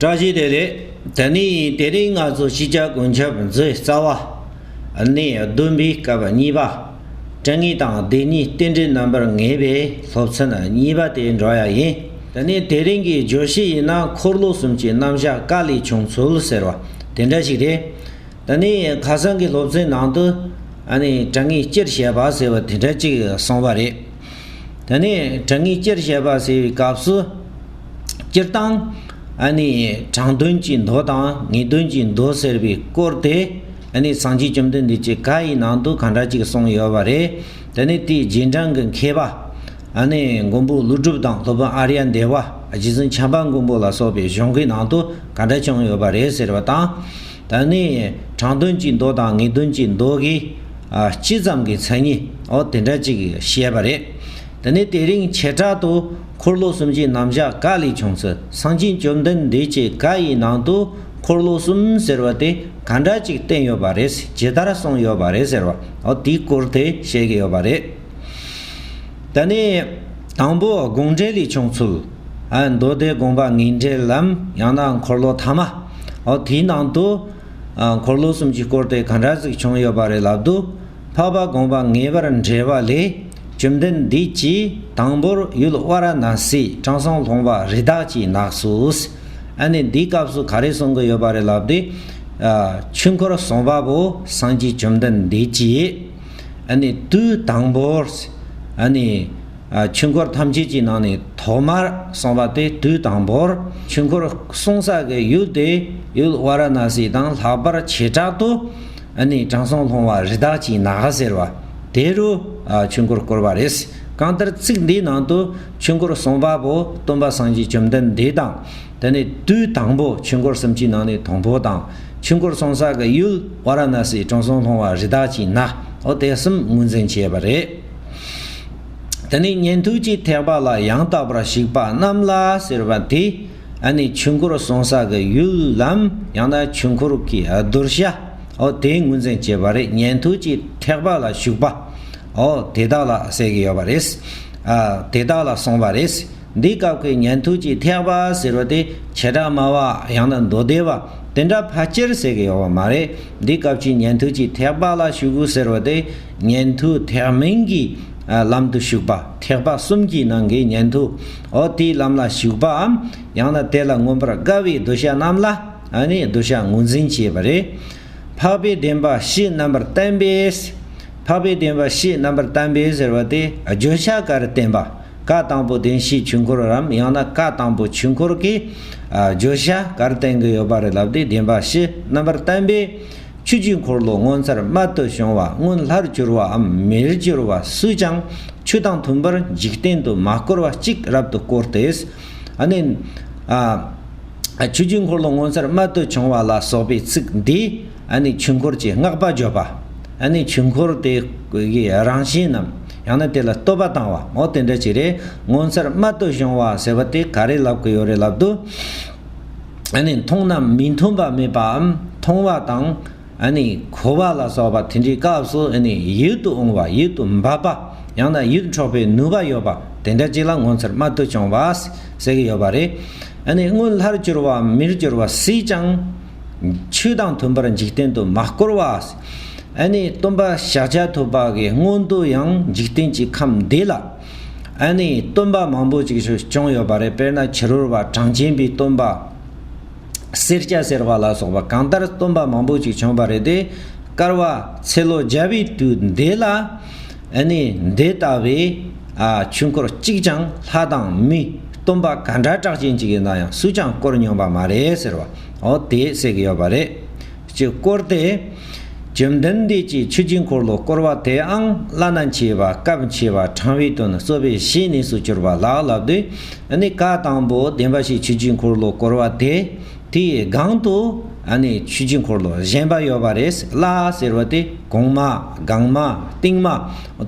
བཀྲ་ཤིས་བདེ་ལེགས། ད་ནི་དེ་རིང་ང་ཚོ་ཕྱི་རྒྱལ་དགུན་ཆབ་མཛོད་རྩ་བ་ནས་བདུན་པའི་སྐབས་གཉིས་པ་དྲན་ངེས་དང་བདེན་གཉིས་རྟེན་འབྲེལ་རྣམ་པར་ངེས་པའི་སློབ་ཚན་གཉིས་པ་དེ་འགྲོ་ཡ་ཡིན། ད་ནི་དེ་རིང་གི་བརྗོད་གཞི་ཡིན་ན་འཁོར་ལོ་གསུམ་གྱི་རྣམ་བཞག་བཀའ་ལས་བྱུང་ཚུལ་ཟེར་བ་དེ་འདྲ་ཞིག་རེད། ད་ནི་ཁ་སང་གི་སློབ་ཚན་ནང་དུ་དྲན་ངེས་སྤྱིར་བཤད་པ་ཟེར་བ་དེ་འདྲ་ཅིག་གསུངས་པ་རེད། ད་ནི་དྲང་ངེས་སྤྱིར་བཤད་པ་ཟེར་བའི་སྐབས་སུ། སྤྱིར་བཏང་ཨ་ནི་དྲང་དོན་གྱི་མདོ་དང་ངེས་དོན་གྱི་མདོ་ཟེར་བའི་སྐོར་དེ་ཨ་ནི་སངས་རྒྱས་བཅོམ་ལྡན་འདས་ཀྱི་བཀའ་ཡི་ནང་དུ་གང་འདྲ་ཅིག་གསུངས་ཡོད་པ་རེད། ད་ནི་དེའི་རྗེས་འབྲང་གི་མཁས་པ་ཨ་ནི་མགོན་པོ་ཀླུ་སྒྲུབ་དང་སློབ་དཔོན་ཨ་རྱ་འདས་པ་རྗེ་བཙུན་བྱམས་པ་མགོན་པོ་ལ་སོགས་པའི་གཞུང་གི་ནང་དུ་གང་འདྲ་བྱུང་ཡོད་པ་རེད་ཟེར་བ་དང། ད་ནི་དྲང་དོན་གྱི་མདོ་དང་ངེས་དོན་གྱི་མདོ་གི་སྤྱི་ཙམ་གྱི་མཚན་ཉིད་འོ་དེ་འདྲ་ཅིག་བཤད་པ་རེད། དེ་ནས་དེ་རིང་བྱེ་བྲག་ཏུ་འཁོར་ལོ་གསུམ་གྱི་རྣམ་གཞག་བཀའ་ལས་བྱུང་ཚུལ་གསང་ཆེན་བཅོམ་ལྡན་འདས་ཀྱི་བཀའ་ཡི་ནང་དུ་འཁོར་ལོ་གསུམ་ཟེར་བ་དེ་ག་འདྲ་ཅིག་བསྟན་ཡོད་པ་རེད་ཇི་ལྟར་གསུངས་ཡོད་པ་རེད་ཟེར་བ་འོ་དེའི་སྐོར་དེ་བཤད་ཀྱི་ཡོད་པ་རེད། ད་ནི་དང་པོ་དགོངས་འགྲེལ་ལས་བྱུང་ཚུལ། མདོ་སྡེ་དགོངས་པ་ངེས་འགྲེལ་ལམ་ཡང་ན་འཁོར་ལོ་ཐ་མ། འོ་དེའི་ནང་དུ། འཁོར་ལོ་གསུམ་གྱིས་བསྐོར་ཏེ་གང་འདྲ་ཟིག་བྱུང་ཡོད་པ་རེད་ལབ་འདུག་འཕགས་པ་དགོངས་པ་ངེས་པར་འགྲེལ་བ་ལས། བཅོམ་ལྡན་འདས་ཀྱིས་དང་པོར་ཡུལ་དབའ་ར་ན་སི་དྲང་སྲོང་ལྷུང་བ་རི་དྭགས་ཀྱི་ནགས་སུ། ཨ་ནི་འདིའི་སྐབས་སུ་ག་རེ་གསུང་གི་ཡོད་པ་རེད་ལབ་སྟེ། ཆོས་འཁོར་གསུང་པ་པོ་སངས་རྒྱས་བཅོམ་ལྡན་འདས་ཀྱིས། དུས་དང་པོར་ཆོས་འཁོར་ཐམས་ཅད་ཀྱི་ནང་ནས་ཐོག་མར་གསུངས་པ་དེ་དུས་དང་པོར་ཆོས་འཁོར་གསུང་ས་གི་ཡུལ་དེ་ཡུལ་ཝཱ་ར་ན་སི་དང་ལྷག་པར་བྱེ་བྲག་ཏུ་དྲང་སྲོང་ལྷུང་བ་རི་དྭགས་ཀྱི་ནགས་ཟེར་བ་དེ་རུ་ཆོས་འཁོར་བསྐོར་བ་རེད། གང་ལྟར་ཚིག་འདིའི་ནང་དུ་ཆོས་འཁོར་གསུངས་པ་པོ་སྟོན་པ་སངས་རྒྱས་བཅོམ་ལྡན་འདས་དང། དེ་ནི་དུས་དང་པོ་ཆོས་འཁོར་གསུམ་གྱི་ནང་ནས་དང་པོ་དང། ཆོས་འཁོར་ཚོང་ས་གི་ཡུལ་བྷ་ར་ན་སིའི་དྲང་སྲོང་སློང་བ་རི་དྭགས་ཀྱི་ནག་འོ་དེ་གསུམ་ངོས་འཛིན་བྱས་པ་རེད། དེ་ནས་ཉན་ཐོས་ཀྱི་ཐེག་པ་ལ་ཡང་དག་པར་གཞིགས་པ་རྣམས་ལ་ཟེར་བ་དེ་ཨ་ནི་ཆོས་འཁོར་གསོང་ས་གི་ཡུལ་ལམ་ཡང་ན་ཆོས་འཁོར་གྱི་གདུལ་བྱ་འོ་དེ་ངོས་འཛིན་བྱས་པ་རེད་ཉན་ཐོས་ཀྱི་ཐེག་པ་ལ་ཞུགས་པ་འོ་དེ་དག་ལ་ཟེར་གྱི་ཡོད་པ་རེད། དེ་དག་ལ་གསོང་བ་རེད། འདི་སྐབས་ཀྱི་ཉན་ཐོས་ཀྱི་ཐེག་པ་ཟེར་བ་དེ་བྱེ་བྲག་སྨྲ་བ་ཡང་ན་མདོ་སྡེ་བ་དེ་འདྲ་ཕལ་ཆེར་ཟེར་གྱི་ཡོད་པ་མ་རེད། འདི་སྐབས་ཀྱི་ཉན་ཐོས་ཀྱི་ཐེག་པ་ལ་ཞུགས་གོ་ཟེར་བ་དེ་ཉན་ཐོས་ཐེག་མིན་གྱི་ལམ་དུ་ཞུགས་པ་ཐེག་པ་གསུམ་གྱི་ནང་གི་ཉན་ཐོས་འོ་དེའི་ལམ་ལ་ཞུགས་པའམ་ཡང་ན་དེ་ལ་མངོན་པར་དགའ་བའི་གདུལ་བྱ་རྣམས་ལ་ནི་གདུལ་བྱ་ངོས་འཛིན་བྱེད་པ་རེད། འཕགས་པའི་བདེན་པ་བཞི་རྣམ་པར་བསྟན་པས། འཕགས་པའི་བདེན་པ་བཞི་རྣམ་པར་བསྟན་པས་ཟེར་བ་དེ་བརྗོད་བྱ་ག་རེ་བསྟན་པ། བཀའ་དང་པོ་བདེན་བཞིའི་ཆོས་འཁོར་རམ་ཡང་ན་བཀའ་དང་པོ་ཆོས་འཁོར་གྱི་བརྗོད་བྱ་གར་བསྟན་གྱི་ཡོད་པ་རེད་ལབ་སྟེ་བདེན་པ་བཞི་རྣམ་པར་བསྟན་པའི་ཆོས་བརྒྱུད་འཁོར་ལོ་ངོ་མཚར་རྨད་དུ་བྱུང་བ་སྔོན་ལྷར་གྱུར་བའམ་མིར་གྱུར་བ་སུས་ཀྱང་ཆོས་དང་མཐུན་པར་འཇིག་རྟེན་དུ་མ་བསྐོར་བ་གཅིག་རབ་ཏུ་བསྐོར་ཏེ། ནི། ཆོས་བརྒྱུད་འཁོར་ལོ་ངོ་མཚར་རྨད་དུ་བྱུང་བ་ལ་སོགས་པའི་ཚིག་འདི། ནི་ཆོས་འཁོར་གྱི་བསྔགས་པ་བརྗོད་པ། ནི་ཆོས་འཁོར་དེའི་རང་བཞིན་ནམ་ཡང་ན་དེ་ལ་བསྟོད་པ་བཏང་བ་འོ་དེ་འདྲ་ཅིག་རེད་ངོ་མཚར་རྨད་དུ་བྱུང་བ་ཟེར་བ་དེ་ག་རེ་ལབ་གི་ཡོད་རེད་ལབ་དུས། ནི་མཐོང་ན་མི་མཐོང་པ་མེད་པའམ་མཐོང་བ་དང། ནི་གོ་བ་ལ་སོགས་པ་དེ་འདྲའི་སྐབས་སུ་ནི་ཡིད་དུ་འོང་བ་ཡིད་དུ་འབབ་པ་ཡང་ན་ཡིད་འཕྲོག་པའི་ནུས་པ་ཡོད་པ་དེ་འདྲ་ཅིག་ལ་ངོ་མཚར་རྨད་དུ་བྱུང་བ་ཟེར་གི་ཡོད་པ་རེད། ནི་སྔོན་ལྷར་གྱུར་བའམ་མིར་གྱུར་བ་སྲིད་ཀྱང། ཆོས་དང་མཐུན་པར་འཇིག་རྟེན་དུ་མ་བསྐོར་བ། ཨཱ་ནི། སྟོན་པ་ཤཱཀྱ་ཐུབ་པ་གའི་སྔོན་དུ་ཡང་འཇིག་རྟེན་གྱི་ཁམས་འདས་ལ། ཨཱ་ནི། སྟོན་པ་མང་པོ་ཅིག་ཆོས་སྐྱོང་ཡོད་པ་རེད་དཔེར་ན་ཕྱི་རོལ་བ་གྲངས་ཅན་པའི་སྟོན་པ། སེར་སྐྱ་སེར་བ་ལ་སོགས་པ་གང་ལྟར་སྟོན་པ་མང་པོ་ཅིག་བྱོན་པ་རེད་དེ། སྐར་བ་ཚེ་ལོ་བརྒྱ་པའི་དུས་འདས་ལ། ཨ་ནི་འདི་ལྟ་བུའི་ཆོས་འཁོར་གཅིག་ཀྱང་ལྷ་དང་མི་སྟོན་པ་ག་འདྲ་གྲགས་ཅན་གཅིག་ཡིན་ན་ཡང་སུས་ཀྱང་བསྐོར་མྱོང་པ་མ་རེད་ཟེར་བ་འོ་དེས་བསྲེག་གི་ཡོད་པ་རེད། སྤྱིར་བསྐོར་དེ། བཅོམ་ལྡན་འདས་ཀྱིས་ཆོས་ཀྱི་འཁོར་ལོ་བསྐོར་བ་དེ་ཨང་བླ་ན་མཆིས་པ་སྐབས་མཆིས་པ་དྲང་བའི་དོན་གསོལ་བའི་བཤེས་གཉེན་སུ་གྱུར་པ་ལགས་ལབ་དུས་ཨ་ནི་བཀའ་དང་པོ་བདེན་པ་ཞིག་ཆོས་ཀྱི་འཁོར་ལོ་བསྐོར་བ་དེ་དེའི་སྒང་དུ་ཨ་ནེ་ཆོས་རྗེ་འཁོར་ལོ་བཞེངས་པ་ཡོད་པ་རེད་ལ་ཟེར་བ་དེ་གོང་མ་སྒང་མ་སྟེང་མ་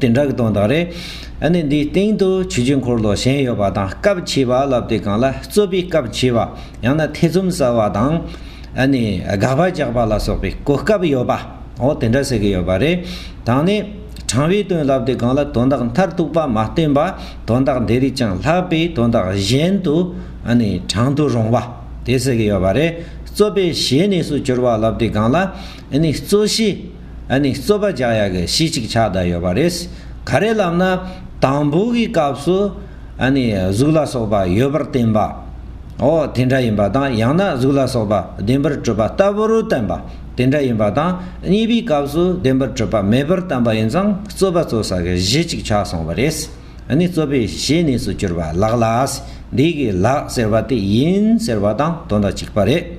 དེ་འདྲ་གི་དོན་དག་རེད། ཨ་ནེ་འདིའི་སྟེང་དུ་ཆོས་རྗེ་འཁོར་ལོ་བཞེངས་ཡོད་པ་དང་སྐབས་ཕྱེས་པ་ལབ་དེ་གང་ལ་རྩོད་པའི་སྐབས་ཕྱེས་པ་ཡང་ན་ཐེ་ཚོམ་ཟ་བ་དང་ཨ་ནེ་དགག་པ་རྒྱག་པ་ལ་སོགས་པའི་གོ་སྐབས་ཡོད་པ་འོ་དེ་འདྲ་ཟེར་གི་ཡོད་པ་རེད། དང་ནི་དྲང་བའི་དོན་ལབ་དེ་གང་ལ་དོན་དག་མཐར་གཏུགས་པ་མ་བསྟན་པ་དོན་དག་འདི་རིགས་ཀྱང་ལྷག་པའི་དོན་དག་གཞན་དུ་ཨ་ནེ་དྲང་དུ་རུང་བ། དེ་ཟེར་གྱི་ཡོད་པ་རེད། རྩོད་པའི་གཞས་ནས་སུ་གྱུར་པ་ལབ་དེ་སྒང་ལ། ཨཱ་ནི་རྩོད་གཞས། ཨཱ་ནི་རྩོད་པ་རྒྱག་ཡག་གི་གཞས་གཅིག་ཆགས་བསྡད་ཡོད་པ་རེད། ག་རེ་ལབ་ན། དང་པོ་གི་སྐབས་སུ། ཨཱ་ནི་གཟུགས་ལ་སོགས་པ་ཡོད་པར་བསྟན་པ། འོ་དེ་འདྲ་ཡིན་པ་དང་ཡང་ན་གཟུགས་ལ་སོགས་པ་བདེན་པར་གྲུབ་པ་ལྟ་བུ་རུ་བསྟན་པ། དེ་འདྲ་ཡིན་པ་དང་གཉིས་པའི་སྐབས་སུ་བདེན་པར་གྲུབ་པ་མེད་པར་བསྟན་པ་ཡིན་ཙང་རྩོད་པ་རྩོད་ས་གི་གཞས་གཅིག་ཆགས་སོང་བ་རེད། ནི་རྩོད་པའི་གཞི་གནས་སུ་གྱུར་པ་ལགས་ལ། འདི་གི་ལགས་ཟེར་བ་དེ་ཡིན་ཟེར་བ་དང་དོན་དང་གཅིག་པ་རེད།